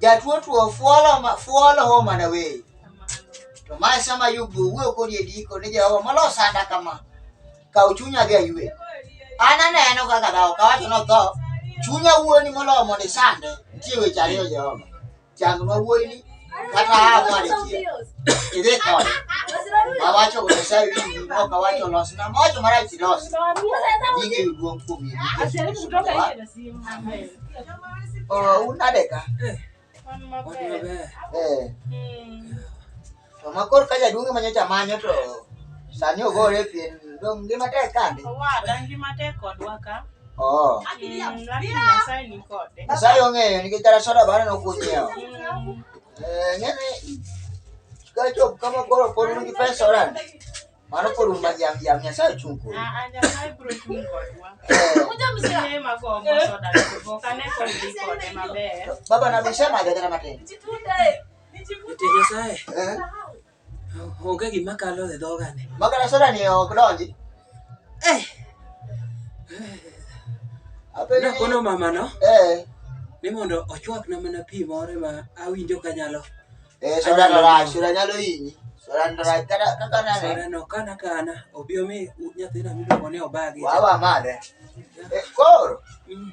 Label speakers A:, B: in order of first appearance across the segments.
A: Jatuo tuo fuolo ma fuolo ho mana we. To ma sama yubu wuo kodi e diko ni Jehova molo sanda kama. Ka uchunya ga yue. Ana neno kaka dawo ka wacho no tho. Chunya wuoni molo mondo isande. Nitie weche ariyo Jehova. Chang ma wuoyi ni kata awali idhi kode awacho Nyasaye winji ok awacho losna mocho marach ilos nyinge yuduong' kuom unadeka to ma koro ka jaduong' ema nyocha manyo to sani ogore pien dong' ngima tek kande ngima tek
B: kodwa ka Oh.
A: Nyasaye ong'eyo nikech kata soda bana nokunyiewo. Eh, ng'eni ka chop kama koro pod un gi pesa oran. Mano pod un majam jam Nyasaye ochung' kuno. Baba na bisema gajana matin. Nyasaye.
C: Eh. Onge gima kalo e dhogane. Magana soda ni ok
A: donji. Eh.
C: Apena kono mama no. Eh. Ni mondo ochwak na mana pi moro ma awinjo kanyalo. Eh soda no
A: ra, soda nyalo yinyi. Soda no ra kada kaka na. Soda no kana kana
C: obiyo mi nyathina mi ko ne obagi. Wawa mare.
A: Eh koro. Mm.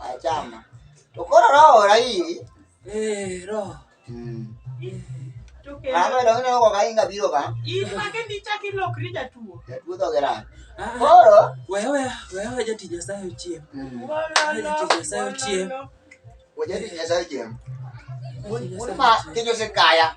A: Achama. To koro roho ora iri. Eh, roho.
C: Mm.
A: Mama donge ne okoka inga biro ka? In mage ni chak
B: ilokri jatuo. Jatuo dhoge rach. Ah,
A: Koro Wewe wewe wewe
C: jati Nyasaye ochiem. mm, Jati Nyasaye ochiem. wajadi
A: Nyasaye chieng'. Jati Un Nyasaye ma ochiem. kijo sikaya.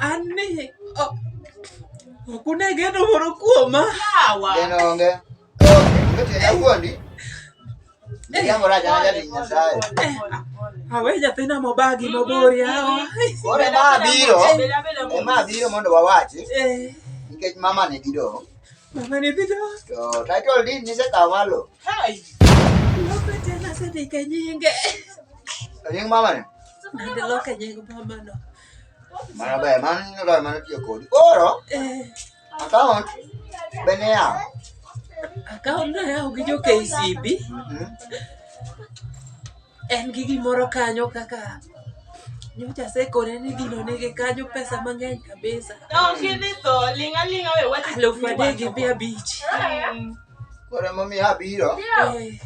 A: An ni
C: ok ok une geno moro kuoma. Yawa. Geno onge.
B: Onge
A: tienda wuondi. Jambo raja na jadi Nyasaye. Awe
C: nyathina mobagi mabor yawa. Koro ema abiro.
A: Bela bela mo. Ema abiro mondo wawachi Eh, nikech mama ne bidong'. mama ni bido. To
C: title deed
A: nisekawo malo.
C: Hai. Lope tena sendike nyinge. To
A: nying mama ne? Nende loke nying
C: mamano. Mano
A: ber, mano nyingo ber mano tiyo kodi. Koro, Eh, account be ne yawo. akaon
C: nayawo gi jo KCB. Mhm. En gi gimoro kanyo kaka nyocha sekone ni gino nigi kanyo pesa mang'eny kabisa. Don't give it though.
B: Linga linga we what is Alufu adek gi mia abich.
C: Koro emomiyo
A: abiro. Eh,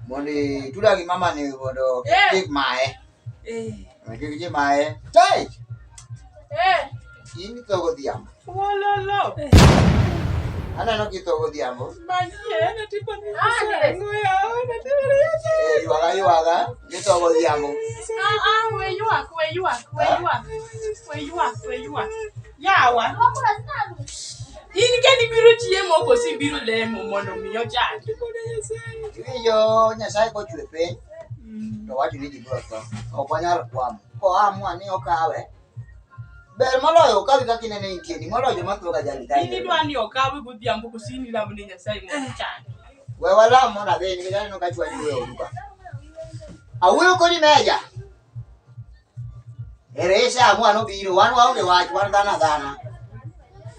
A: mondo ituda gi mama ni mondo eh. kik mae eh. kik ji mae tai eh. in itho
B: godhiambo
A: aneno kitho godhiambo
B: ywaga ywaga
A: githo godhiambo ah,
B: ah, Yawa. In kendi biro chiemo koso ibiro lemo mondo mi ochangi? Iwinjo
A: Nyasaye kochwe piny mm. to wacho ni ji biro tho. Ok wanyal kwamo. Koamua ni okawe ber moloyo okawi kaka inene nitie ni moloyo joma thoga jali kae. In idwa ni okawe
B: godhiambo koso in ilamo ni Nyasaye mondo eh. ochangi? We walam
A: mondo adhi nikech aneno ka chwa ji weyo duka. Awuoyo kodi meja. Erese amua nobiro, wan waonge wach, wan dhano adhana.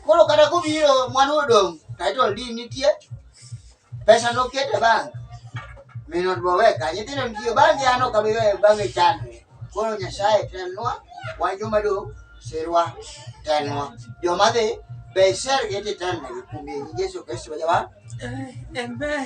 A: Koro kata kobiro mwandu odong' title deed nitie, pesa noket e bank. Min ot be oweka, nyithindo nitie, bange an ok abi weyo bange chandre. Koro Nyasaye telnwa, wan joma dong' sirwa telnwa. Joma dhi be isergi titelnegi kuom Yesu Kristo ma jawan.
C: Amen.